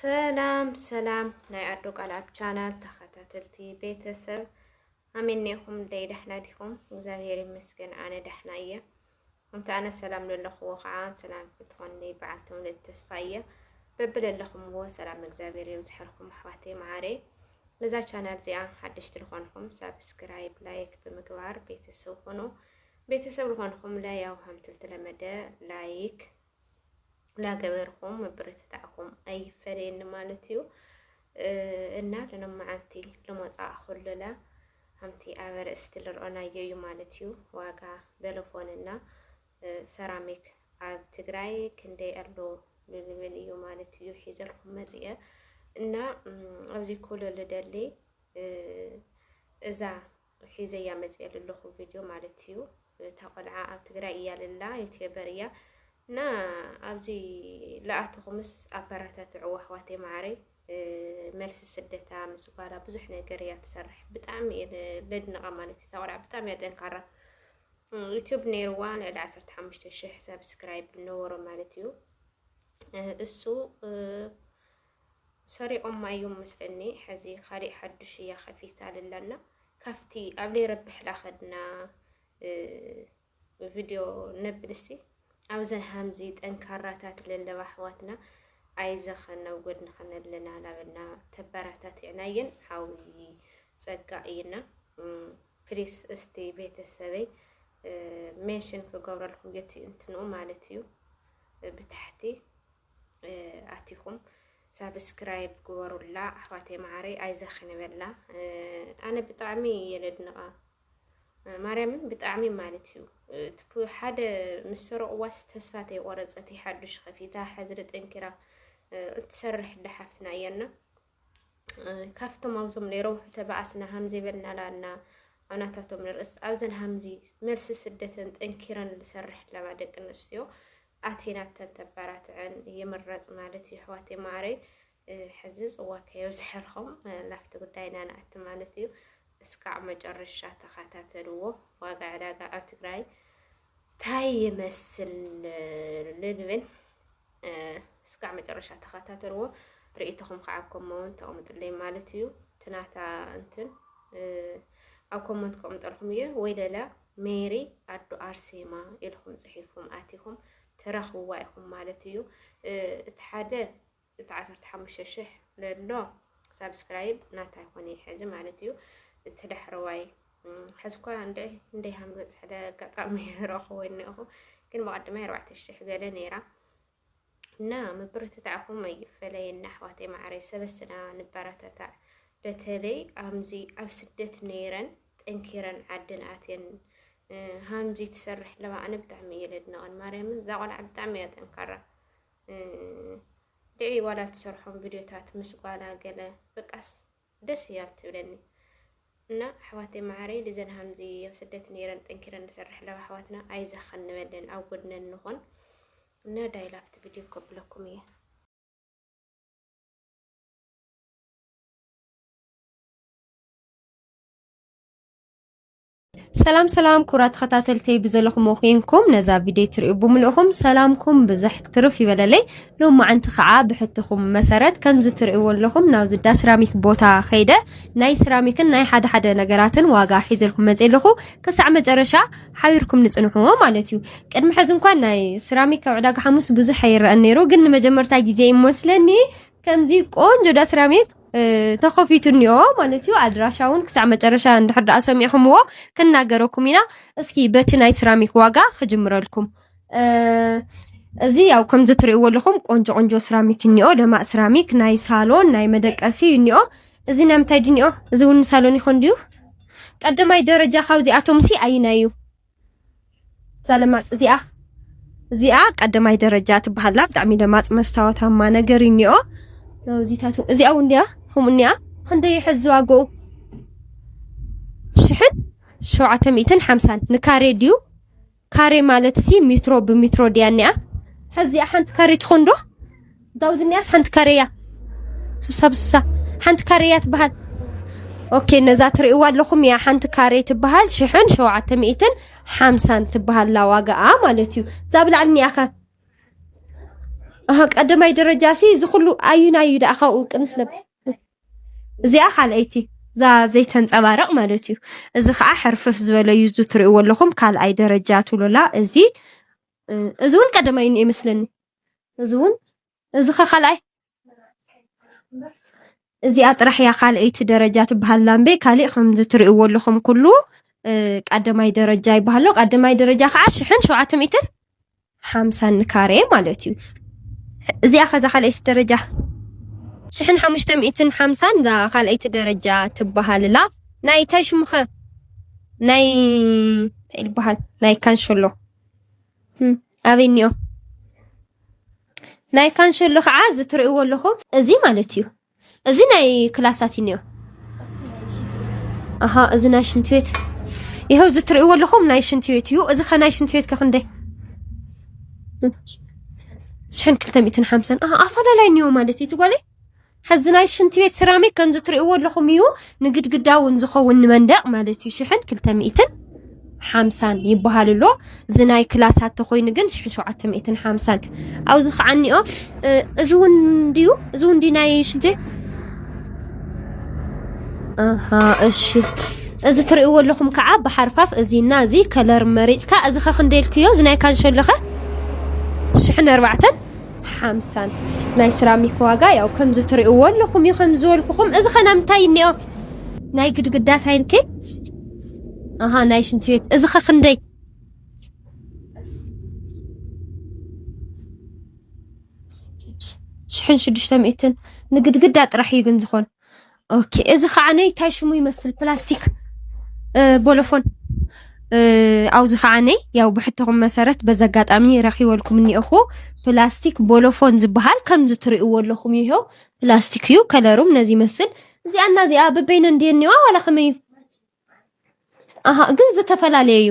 ሰላም ሰላም ናይ ኣዶ ቃል ኣብ ቻናል ተኸታተልቲ ቤተሰብ ኣሜኔኹም ደይ ዳሕና ዲኹም? እግዚኣብሔር ይመስገን ኣነ ዳሕና እየ። እንተ ኣነ ሰላም ለለኽዎ ከዓ ሰላም ክትኾንለይ በዓል ተውለት ተስፋ እየ። በብለለኹምዎ ሰላም እግዚኣብሔር የብዝሐልኩም ኣሕዋተይ መዓረይ። ነዛ ቻናል እዚኣ ሓደሽቲ ዝኾንኹም ሳብስክራይብ ላይክ ብምግባር ቤተሰብ ኾኑ። ቤተሰብ ዝኾንኹም ለያው ሃምትልቲ ለመደ ላይክ ላገበርኹም ምብርትታዕኩም ኣይፈለየኒ ማለት እዩ እና ለነመዓንቲ ልመፃእ ኩልለ ከምቲ ኣብ ርእስቲ ልርኦናዮ እዩ ማለት እዩ ዋጋ በለፎን እና ሰራሚክ ኣብ ትግራይ ክንደይ ኣሎ ልብል እዩ ማለት እዩ ሒዘልኩም መፅአ እና ኣብዚ ኩሉ ልደሊ እዛ ሒዘያ መጽየ ለለኹ ቪድዮ ማለት እዩ እታ ቆልዓ ኣብ ትግራይ እያ ለላ ዩትበር እያ እና ኣብዚ ለኣተኹምስ ኣበራታትዕዋ ኣሕዋተይ መዓረይ መልሲ ስደታ ምስ ጓላ ብዙሕ ነገር እያ ትሰርሕ ብጣዕሚ እየ ለድንቓ ማለት እዩ እታ ቆልዓ ብጣዕሚ እያ ጠንካራ ዩትብ ነይርዋ ልዕሊ ዓሰርተ ሓሙሽተ ሽሕ ሰብስክራይብ ነበሮ ማለት እዩ እሱ ሰሪቆማ ኢዮም መስለኒ ሐዚ ካሊእ ሓዱሽ ኢያ ከፊታ ልላና ካፍቲ ኣብ ለይረብሕ ላከድና ቪድዮ ነብልሲ ኣብዘን ሃምዚ ጠንካራታት ለለዋ ኣሕዋትና ኣይዘኸን ናብ ጎድንኸን ኣለና ላበልና ተበራታትዕና ኢየን ሓዊ ጸጋ ኢይና ፕሊስ እስቲ ቤተሰበይ ሜንሽን ክገብረልኩም የትእንትኑ ማለት እዩ ብታሕቲ ኣቲኹም ሳብስክራይብ ግበሩላ ኣሕዋተይ መዓረይ ኣይዘኺ ንበላ ኣነ ብጣዕሚ እየ ለድንቓ ማርያምን ብጣዕሚ ማለት እዩ እቲ ሓደ ምስ ሰረቕዋስ ተስፋ ተይቆረፀት ሓዱሽ ከፊታ ሕዝሪ ጠንኪራ እትሰርሕ ዳሓፍትና እያና ካብቶም ኣብዞም ነይሮም ተባኣስና ሃምዚ በልና ላና ኣናታቶም ንርእስ ኣብዘን ሃምዚ መልሲ ስደተን ጠንኪረን ዝሰርሕ ኣለባ ደቂ ኣንስትዮ ኣቲና ተንተባራትዐን ይምረፅ ማለት እዩ ኣሕዋት ማዕረይ ሕዚ ፅዋ ከየብዝሐልኹም ናብቲ ጉዳይና ንኣቲ ማለት እዩ እስካዕ መጨረሻ ተኸታተልዎ ዋጋ ዕዳጋ ኣብ ትግራይ ታይ ይመስል ልብል እስካዕ መጨረሻ ተኸታተልዎ ርእይቶኹም ከዓ ኣብ ኮመንት ተቕምጥለይ ማለት እዩ ትናታ እንትን ኣብ ኮመንት ከቕምጠልኩም እዩ ወይ ለለ ሜሪ ኣዶ ኣርሴማ ኢልኩም ፅሒፍኩም ኣቲኹም ትረኽብዋ ኢኹም ማለት እዩ እቲ ሓደ እቲ ዓሰርተ ሓሙሽተ ሽሕ ለሎ ሳብስክራይብ ናታ ይኮነ እዩ ሕዚ ማለት እዩ እቲ ዳሕረዋይ ሕዚ እኳ እንድዒ እንደይ ሃም ዝበፅሐ ኣጋጣሚ ረኽቦ እኒኹ ግን ብቐድማይ ኣርባዕተ ሽሕ ገለ ነይራ እና ምብርትታዕኹም ኣይፈለየና ኣሕዋተይ ማዕረይ ሰበስና ንበረተታዕ በተለይ ኣምዚ ኣብ ስደት ነይረን ጠንኪረን ዓደን ኣትየን ሃምዚ ትሰርሕ ኣለዋ ኣነ ብጣዕሚ እየ ለድንቐን ማርያምን እዛ ቆልዓ ብጣዕሚ እያ ጠንካራ ድዒ ዋላ ትሰርሖም ቪድዮታት ምስ ጓላ ገለ በቃስ ደስ እያ ትብለኒ እና ኣሕዋተይ መዓረይ ልዘን ሃምዚ ኣብ ስደት ነይረን ጠንኪረን ንሰርሕ ኣለዋ ኣሕዋትና ኣይዛኸን ንበለን ኣብ ጎድነን ንኾን እና ዳይላፍት ቪድዮ ከብለኩም እየ ሰላም ሰላም ኩራት ተኸታተልተይ ብዘለኹም ኮንኩም ነዛ ቪድዮ ትሪኡ ብምልእኹም ሰላምኩም ብዝሕ ትርፍ ይበለለይ ሎማዓንቲ ከዓ ብሕትኹም መሰረት ከምዚ ትሪእዎ ኣለኹም ናብዚ ዳ ስራሚክ ቦታ ከይደ ናይ ስራሚክን ናይ ሓደ ሓደ ነገራትን ዋጋ ሒዘልኩም መፅ ኣለኹ ክሳዕ መጨረሻ ሓቢርኩም ንፅንሕዎ ማለት እዩ ቅድሚ ሕዚ እንኳን ናይ ስራሚክ ኣብ ዕዳጋ ሓሙስ ብዙሕ ኣይረአን ነይሩ ግን ንመጀመርታ ግዜ ይመስለኒ ከምዚ ቆንጆ ዳ ስራሚክ ተኸፊቱ እኒኦ ማለት እዩ ኣድራሻ እውን ክሳዕ መጨረሻ እንድሕር ደኣ ሰሚዕኹምዎ ክንናገረኩም ኢና እስኪ በቲ ናይ ስራሚክ ዋጋ ክጅምረልኩም እዚ ያው ከምዚ ትርእይዎ ኣለኹም ቆንጆ ቆንጆ ስራሚክ እኒኦ ደማቅ ስራሚክ ናይ ሳሎን ናይ መደቀሲ እኒኦ እዚ ናይ ምንታይ ድዩ እኒኦ እዚ እውን ሳሎን ይኾን ድዩ ቀዳማይ ደረጃ ካብዚኣቶም ሲ ኣይናይ እዩ እዛ ለማጽ እዚኣ እዚኣ ቀዳማይ ደረጃ ትበሃላ ብጣዕሚ ለማጽ መስታወታማ ነገር እኒኦ ናውዚታቱ እዚኣ እውን እንዲያ ከምኡ እኒኣ ክንደይ ይሕዝ ዋግኡ ሽሕን ሸውዓተ ሚእትን ሓምሳን ንካሬ ድዩ ካሬ ማለት ሲ ሚትሮ ብሚትሮ ድያ እኒኣ ሕዚኣ ሓንቲ ካሬ ትኾን ዶ እታ ኣብዚ እኒኣስ ሓንቲ ካሬ እያ ስሳ ብስሳ ሓንቲ ካሬ እያ ትበሃል ኦኬ ነዛ ትርእይዋ ኣለኹም እያ ሓንቲ ካሬ ትበሃል ሽሕን ሸውዓተ ሚእትን ሓምሳን ትበሃላ ዋጋኣ ማለት እዩ እዛ ብላዕሊ እኒኣኸ ቀደማይ ደረጃ ሲ እዚ ኩሉ ኣዩናይ እዩ ደኣ ካብኡ ቅንስ ለብ እዚኣ ካልኣይቲ እዛ ዘይተንፀባረቕ ማለት እዩ እዚ ከዓ ሕርፍፍ ዝበለ እዩ እዚ ትርእይዎ ኣለኹም ካልኣይ ደረጃ ትብሎላ እዚ እ፣ እዚ እውን ቀደማይ እዩ መስለኒ እዚ እውን እዚ ከ ካልኣይ እዚኣ ጥራሕ እያ ካልኣይቲ ደረጃ ትበሃል ላምበይ ካሊእ ከምዚ ትሪእዎ ኣለኹም ኩሉ ቀዳማይ ደረጃ ይበሃሎ ቀዳማይ ደረጃ ከዓ ሽሕን ሸውዓተ ሚእትን ሓምሳን ካሬ ማለት እዩ እዚኣ ከዛ ካልኣይቲ ደረጃ ሽሕን ሓሙሽተ ሚእትን ሓምሳን እዛ ካልኣይቲ ደረጃ ትበሃልላ ናይ እንታይ ሽሙኸ ናይ እንታይ ይበሃል ናይ ካንሸሎ ኣበይ እኒኦ ናይ ካንሸሎ ከዓ እዚ ትርእይዎ ኣለኹም እዚ ማለት እዩ እዚ ናይ ክላሳት እኒኦ ኣሃ እዚ ናይ ሽንቲ ቤት ይኸው እዚ ትርእይዎ ኣለኹም ናይ ሽንቲ ቤት እዩ እዚ ከናይ ሽንቲ ቤት ከክንደይ ሽሕን ክልተ ሚእትን ሓምሳን ኣፈላላይ እኒኦ ማለት እዩ ትጓለይ ሕዚ ናይ ሽንቲ ቤት ሴራሚክ ከምዚ ትርእይዎ ኣለኹም እዩ ንግድግዳ እውን ዝኸውን ንመንደቕ ማለት እዩ ሽሕን ክልተ ሚእትን ሓምሳን ይበሃል ኣሎ እዚ ናይ ክላሳት ተኮይኑ ግን ሽሕ ሸውዓተ ሚእትን ሓምሳን ኣብዚ ከዓ እኒኦ እዚ እውን ድዩ እዚ እውን ድዩ ናይ ሽንቲ ኣሃ እሺ እዚ ትርእይዎ ኣለኹም ከዓ ብሓርፋፍ እዚና እዚ ከለር መሪፅካ እዚ ከ ክንደይ ኢልክዮ እዚ ናይ ካንሸሎኸ ሽሕን ኣርባዕተን ሓምሳን ናይ ስራሚክ ዋጋ ያው ከምዚ ትርእዎ ኣለኹም እዩ ከምዚ ዝበልኩኹም እዚ ኸ ናይ ምንታይ እኒኦ ናይ ግድግዳ ታይልኪ ኣሃ ናይ ሽንቲ ቤት እዚ ኸ ክንደይ ሽሕን ሽዱሽተ ሚእትን ንግድግዳ ጥራሕ እዩ ግን ዝኾን ኦኬ እዚ ከዓ ነይ ታይ ሽሙ ይመስል ፕላስቲክ ቦሎፎን ኣብዚ ከዓ ነይ ያው ብሕቶኹም መሰረት በዚ ኣጋጣሚ ረኪበልኩም እኒኦኹ ፕላስቲክ ቦሎፎን ዝበሃል ከምዚ ትርእይዎ ኣለኹም እዩ ይኸው ፕላስቲክ እዩ ከለሩም ነዚ ይመስል እዚኣ እና እዚኣ በበይነ እንድየ እኒዋ ዋላ ከመይ እዩ ኣሃ ግን ዝተፈላለየ እዩ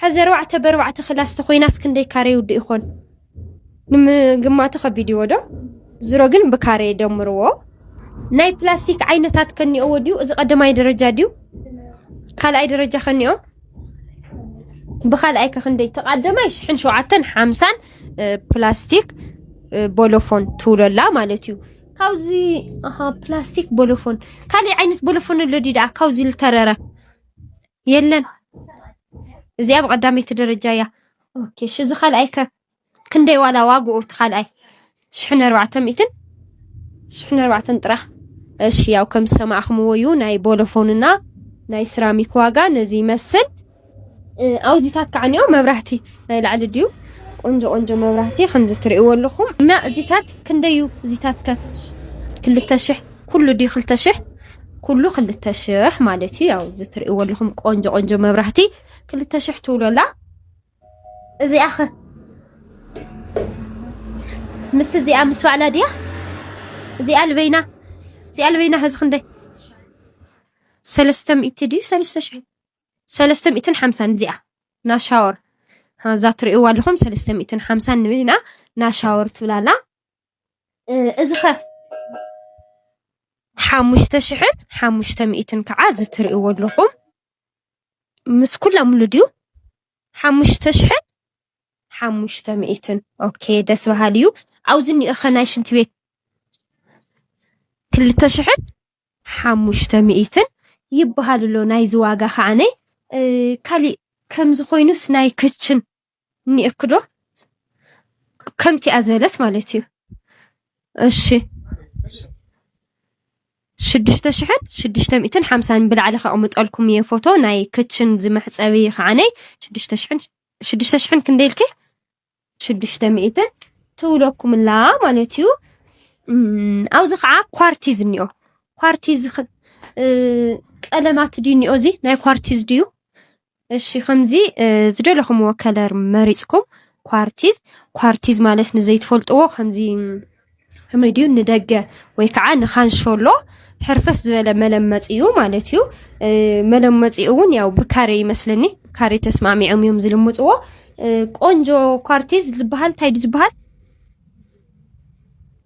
ሐዚ ኣርባዕተ በርባዕተ ክላስ ተኾይናስ ክንደይ ካሬ ይውድእ ይኾን ንምግማቱ ከቢድ እዎ ዶ ዝሮ ግን ብካሬ ደምርዎ። ናይ ፕላስቲክ ዓይነታት ከኒኦዎ ድዩ እዚ ቀደማይ ደረጃ ድዩ ካልኣይ ደረጃ ከኒኦ ብካልኣይ ከክንደይ ተቃደማይ ሽሕን ሸውዓተን ሓምሳን ፕላስቲክ ቦሎፎን ትውለላ ማለት እዩ ካብዚ ኣሃ ፕላስቲክ ቦሎፎን ካልእ ዓይነት ቦሎፎን ኣሎ ድዩ ደኣ ካብዚ ዝተረረ የለን እዚኣ ብቀዳመይቲ ደረጃ እያ ኦኬ እሺ እዚ ካልኣይ ከ ክንደይ ዋላ ዋግኡ እቲ ካልኣይ ሽሕን ኣርባዕተ ሚእትን ሽሕን ኣርባዕተን ጥራሕ እሺ ያው ከም ዝሰማዕኹምዎ እዩ ናይ ቦሎፎንና ናይ ስራሚክ ዋጋ ነዚ ይመስል ኣውዚታት ከዓ ኒኦ መብራህቲ ናይ ላዕሊ ድዩ ቆንጆ ቆንጆ መብራህቲ ከምዚ ትርእይዎ ኣለኹም እና እዚታት ክንደይ እዩ እዚታት ከ ክልተ ሽሕ ኩሉ ድዩ ክልተ ሽሕ ኩሉ ክልተ ሽሕ ማለት እዩ። ያው እዚ ትርእይዎ ኣለኹም ቆንጆ ቆንጆ መብራህቲ ክልተ ሽሕ ትብሎ ኣላ። እዚኣ ኸ ምስ እዚኣ ምስ ባዕላ ድያ? እዚኣ ልበይና እዚኣ ልበይና ሕዚ ክንደይ ሰለስተ ሚእቲ ድዩ ሰለስተ ሽሕ ሰለስተ ሚእትን ሓምሳን እዚኣ ናሻወር እዛ ትርእይዋ ኣለኹም ሰለስተ ሚእትን ሓምሳን ንበይና ናሻወር ትብላላ እዚኸ ሓሙሽተ ሽሕን ሓሙሽተ ሚእትን ከዓ እዚ እትሪእዎ ኣለኹም ምስ ኩሎም ሙሉ ድዩ? ሓሙሽተ ሽሕን ሓሙሽተ ሚእትን ኦኬ ደስ በሃሊ እዩ። ኣብዚ እኒኦ ኸ ናይ ሽንቲ ቤት ክልተ ሽሕን ሓሙሽተ ሚእትን ይበሃል ኣሎ ናይዚ ዋጋ ከዓ ካሊእ ከምዚ ኮይኑስ ናይ ክችን ኔርኩ ዶ ከምቲኣ ዝበለት ማለት እዩ እሺ ሽዱሽተ ሽሕን ሽዱሽተ ሚእትን ሓምሳን ብላዕሊ ከቕምጠልኩም እየ ፎቶ ናይ ክችን ዝመሕፀቢ ከዓነይ ሽዱሽተ ሽሕን ሽዱሽተ ሽሕን ክንደይ ኢልኪ ሽዱሽተ ሚእትን ትብለኩምላ ማለት እዩ ኣብዚ ከዓ ኳርቲዝ እኒኦ ኳርቲዝ ቀለማት ድዩ እኒኦ እዚ ናይ ኳርቲዝ ድዩ እሺ ከምዚ ዝደለኹምዎ ከለር መሪፅኩም ኳርቲዝ ኳርቲዝ ማለት ንዘይትፈልጥዎ ከምዚ ከመይ ድዩ ንደገ ወይ ከዓ ንካንሸሎ ሕርፈፍ ዝበለ መለመፂ እዩ ማለት እዩ መለመፂ እውን ያው ብካሬ ይመስለኒ ካሬ ተስማዕሚዖም እዮም ዝልምፅዎ ቆንጆ ኳርቲዝ ዝበሃል እንታይ ድዩ ዝበሃል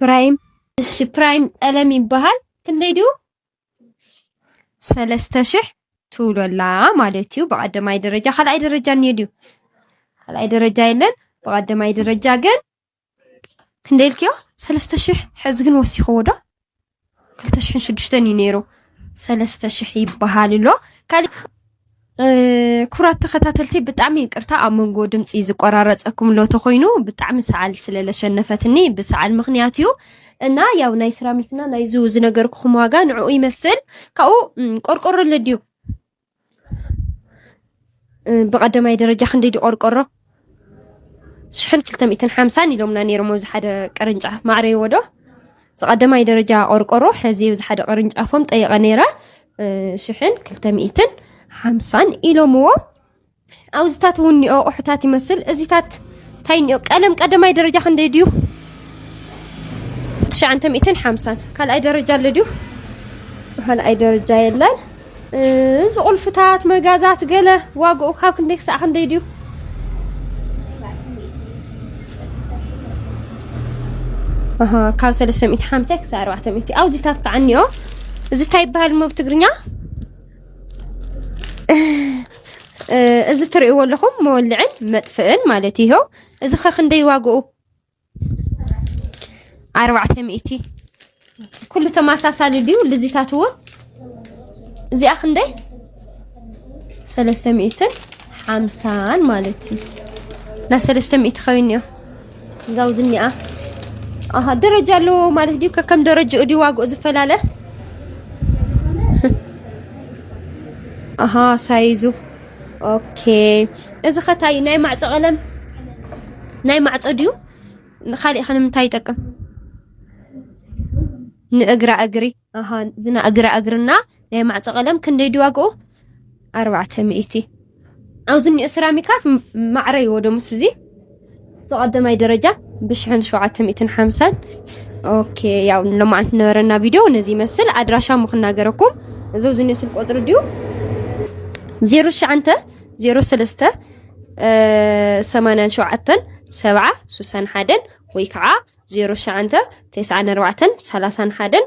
ፕራይም እሺ ፕራይም ቀለም ይበሃል ክንደይ ድዩ ሰለስተ ሽሕ ትብሎ ኣላ ማለት እዩ። ብቀዳማይ ደረጃ ካልኣይ ደረጃ እኒኦ ድዩ? ካልኣይ ደረጃ የለን። ብቀዳማይ ደረጃ ግን ክንደይ ኢልክዮ? ሰለስተ ሽሕ ሕዚ ግን ወሲኽዎ ዶ? ክልተ ሽሕን ሽዱሽተን እዩ ነይሩ። ሰለስተ ሽሕ ይበሃል ኣሎ። ካልእ ኩራት ተኸታተልቲ ብጣዕሚ ይቅርታ ኣብ መንጎ ድምፂ ዝቆራረፀኩም ሎቶ ኮይኑ ብጣዕሚ ሰዓል ስለለሸነፈትኒ ብሰዓል ምክንያት እዩ እና ያው ናይ ስራሚክና ናይዙ ዝነገርኩኹም ዋጋ ንዕኡ ይመስል ካብኡ ቆርቆሮ ለድዩ ብቀዳማይ ደረጃ ክንደይ ድዩ ቆርቆሮ ሽሕን ክልተ ሚእትን ሓምሳን ኢሎምና ነይሮም ኣብዚ ሓደ ቅርንጫፍ ማዕረይዎ ዶ ዝቐደማይ ደረጃ ቆርቆሮ ሕዚ ኣብዚ ሓደ ቅርንጫፎም ጠይቐ ነይረ ሽሕን ክልተ ሚእትን ሓምሳን ኢሎምዎ ኣብዚታት እውን እኒኦ ኣቑሑታት ይመስል እዚታት እንታይ እኒኦ ቀለም ቀደማይ ደረጃ ክንደይ ድዩ ትሽዓንተ ሚእትን ሓምሳን ካልኣይ ደረጃ ኣሎ ድዩ ካልኣይ ደረጃ የለን እዚ ቁልፍታት መጋዛት ገለ ዋግኡ ካብ ክንደይ ክሳዕ ክንደይ ድዩ? ካብ 350 ክሳዕ 400 ኣውዚታት ከዓ እኒኦ እዚ እንታይ ይበሃል እሞ ብትግርኛ እዚ ትርእይዎ ኣለኹም መወልዕን መጥፍእን ማለት እዩ እዚ ከ ክንደይ ዋግኡ ኣርባዕተ ሚእቲ ኩሉ ተመሳሳሊ ድዩ ልዚታት እውን እዚኣ ክንደይ ሰለስተ ሚእትን ሓምሳን ማለት እዩ ናይ ሰለስተ ሚእቲ ኮይኑ እዮ እዛው ዝኒኣ ኣሃ ደረጃ ኣለዎ ማለት ድዩ ከከም ደረጃኡ ድዩ ዋግኡ ዝፈላለ ኣሃ ሳይዙ ኦኬ እዚ ከታይ ናይ ማዕጾ ቀለም ናይ ማዕጾ ድዩ ንካሊእ ከ ንምንታይ ይጠቅም ንእግራ እግሪ ኣሃ ዝና እግራ እግርና ናይ ማዕጾ ቀለም ክንደይ ድዩ ዋግኡ ኣርባዕተ ሚእቲ ኣብዚ እኒኦ ሰራሚካት ማዕረ ይወዶ ምስ እዚ ዝቀደማይ ደረጃ ብሽሕን ሸውዓተ ሚእትን ሓምሳን ኦኬ ያው ለማዓንቲ ነበረና ቪድዮ ነዚ ይመስል ኣድራሻ ምክናገረኩም እዞ ዝኒ ስልክ ቁፅሪ ድዩ ዜሮ ሸዓንተ ዜሮ ሰለስተ ሰማንያን ሸውዓተን ሰብዓ ሱሳን ሓደን ወይ ከዓ ዜሮ ሸዓንተ ተስዓን ኣርባዕተን ሰላሳን ሓደን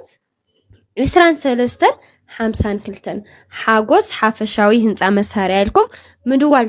ዕስራን ሰለስተን ሓምሳን ክልተን ሓጎስ ሓፈሻዊ ህንፃ መሳርያ ኢልኩም ምድዋል